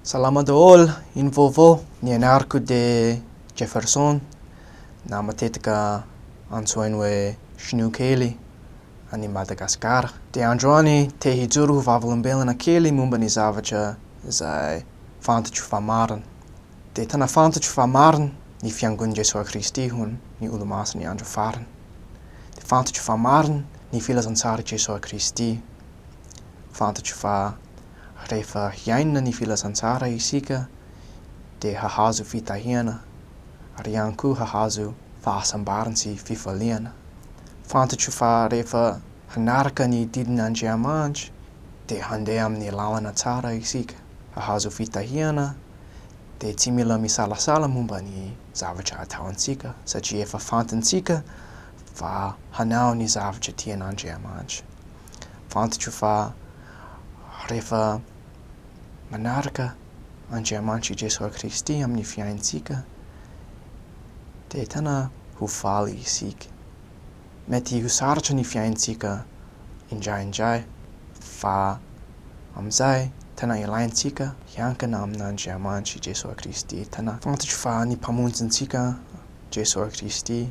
Salama daholo, ino vaovao? Ny anarako dia Jefferson na matetika antsoiny hoe Shinoa kely any Madagasikara. Dia androany te hijoro ho vavolombelona kely momba ny zavatra izay fantatro fa marina. Dia tena fantatro fa marina ny fiangon'i Jesoa Kristy ho ny Olomasin'ny Andro Farany. Dia fantatro fa marina ny Filazantsarin'i Jesoa Kristy. Fantatro fa. Rehefa hiaina ny Filazantsara isika dia hahazo fitahiana ary ihany koa hahazo fahasambarana sy fifaliana. Fantatro fa rehefa hanaraka ny didin' Andriamanitra dia handeha amin'ny lalana tsara isika. Hahazo fitahiana dia tsy mila misalasala momba ny zavatra ataontsika satria efa fantantsika fa hanao ny zavatra tian' Andriamanitra. Fantatra fa rehefa manaraka Andriamanitra i Jesoa Kristy amin'ny fiainantsika dia tena ho faly isika. Mety ho sarotra ny fiainantsika indraindray fa amin'izay tena ilaintsika hiankina amin'Andriamanitra i Jesoa Kristy. Tena fantatro fa ny Mpamonjy antsika Jesoa Kristy.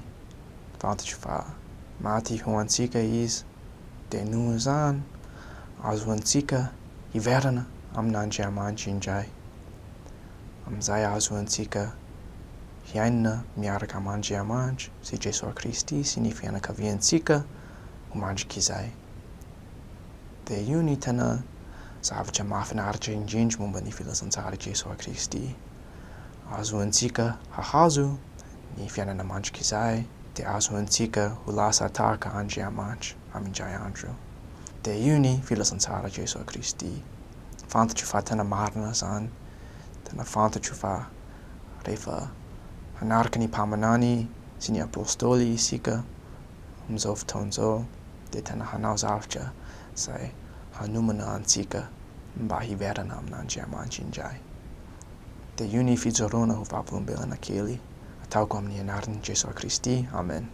tatitry fa maty ho antsika Izy, dia noho izany azoantsika hiverina amin'Andriamanitra indray. Amin'izay azoantsika hiaina miaraka amin'Andriamanitra sy Jesoa Kristy sy ny fianakaviantsika ho mandrik'izay. Dia io ny tena zavatra mahafinaritra indrindra momba ny Filazantsaran'i Jesoa Kristy. Ahazoantsika hahazo ny fiainana mandrikizay dia ahazoantsika ho lasa tahaka Andriamanitra amindray andro io. Dia io ny filazantsara Jesoa Kristy. Fantatro fa tena marina izany. Tena fantatro fa rehefa hanaraka ny mpaminany sy ny apostoly isika amin'izao fotoana izao dia tena hanao zavatra izay hanomana antsika mba hiverina amin'Andriamanitra indray. Dia io ny fijoroana ho vavolombelona kely ataoko amin'ny anaran'i Jesoa Kristy, amen.